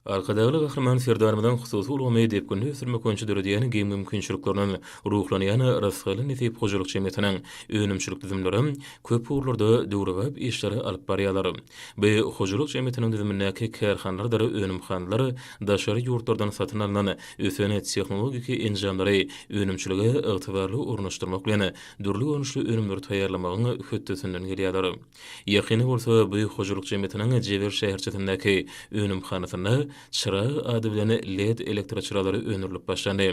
Arkadagly Gahryman Serdarymyzyň hususy ulgamy depginli ösdürmek boýunça döredýän giň mümkinçiliklerinden ruhlanýan Rysgaly-Nesip hojalyk jemgyýetiniň önümçilik düzümleri köp ugurlarda döwrebap işleri alyp barýarlar. Bu hojalyk jemgyýetiniň düzümindäki kärhanalardyr önümhanalar daşary ýurtlardan satyn alnan ösen tehnologik enjamlary önümçilige ygtybarly ornaşdyrmak bilen, dürli görnüşli önümleri taýýarlamagyň hötdesinden gelýärler. Ýakyny bolsa bu hojalyk jemgyýetiniň Jewer şäherçesindäki önümhanasynda Çyrag ady bilen led elektroçyralary öndürilip başlandy.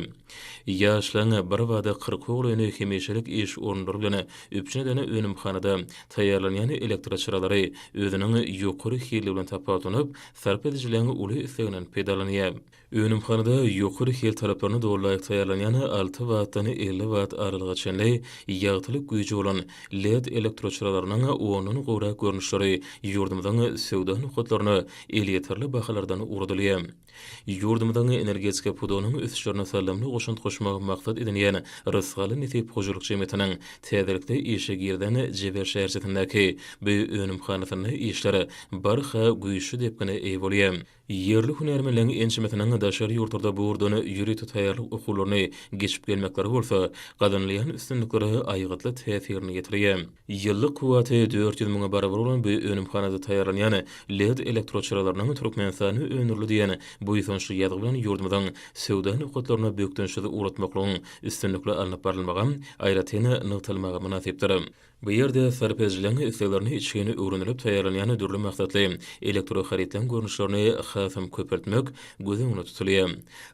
Ýaşlaň birbada kyrkoglyny hemişelik iş orunlary bilen üpjün eden önümhanada taýýarlanýan elektroçyralary özüniň ýokary hilli bilen tapawutlanyp, sarp edijileň uly isleginden peýdalanýar. Önümhanada ýokary hil talaplaryna doly-laýyk taýýarlanýan alty wattdan elli watt aralyga çenli ýagtylyk güýji bolan led elektroçyralarynyň ondan gowrak görnüşleri ýurdumyzyň söwda nokatlaryna elýeterli bahalardan ugradylýar. Ýurdumyzyň energetika pudagynyň ösüşlerine saldamly goşant goşmagy maksat edinýän Rysgaly Nesip hojalyk jemgyýetiniň täzelikde işe girizen Jebel şäherçesindäki bu önümhanasynda işler barha güýçli depgine eýe bolýar. Ýerli hünärmenleriň ençemesiniň daşary ýurtlarda bu ugurdan ýörite taýýarlyk okuwlaryny geçip gelmekleri bolsa, gazanylýan üstünliklere aýgytly täsirini ýetirýär. Ýyllyk kuwwaty dört ýüz müňe barabar bolan bu önümhanada taýýarlanýan led elektroçyralarynyň Türkmenistanda öndürildi diýen buýsançly ýazgy bilen ýurdumyzyň söwda nokatlaryna bökdençsiz ugratmaklygyň üstünlikli alnyp barylmagy aýratyn nygtalmaga mynasypdyr. Bu ýerde sarp edijileriň isleglerini içgin öwrenilip taýýarlanýan dürli maksatly elektroharytlaryň görnüşlerini hasam köpeltmek göz öňünde tutulýar.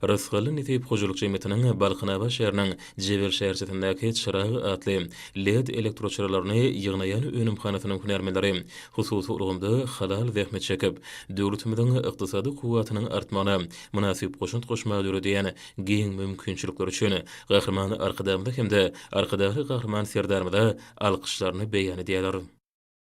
Rysgally nesip hojalyk jemgyýetiniň Balkanabat şäheriniň Jebel şäherçesindäki Çyrag atly led elektroçyralaryny ýygnaýan önümhanasynyň hünärmenleri hususy ulgamda halal zähmet çekip, döwletimiziň ykdysady kuwwatynyň artmagyna mynasyp goşant goşmaga döredýän giň mümkinçilikleri üçin Gahryman Arkadagymyza hem-de Arkadagly Gahryman Serdarymyza alkyşlaryny beýan edýärler.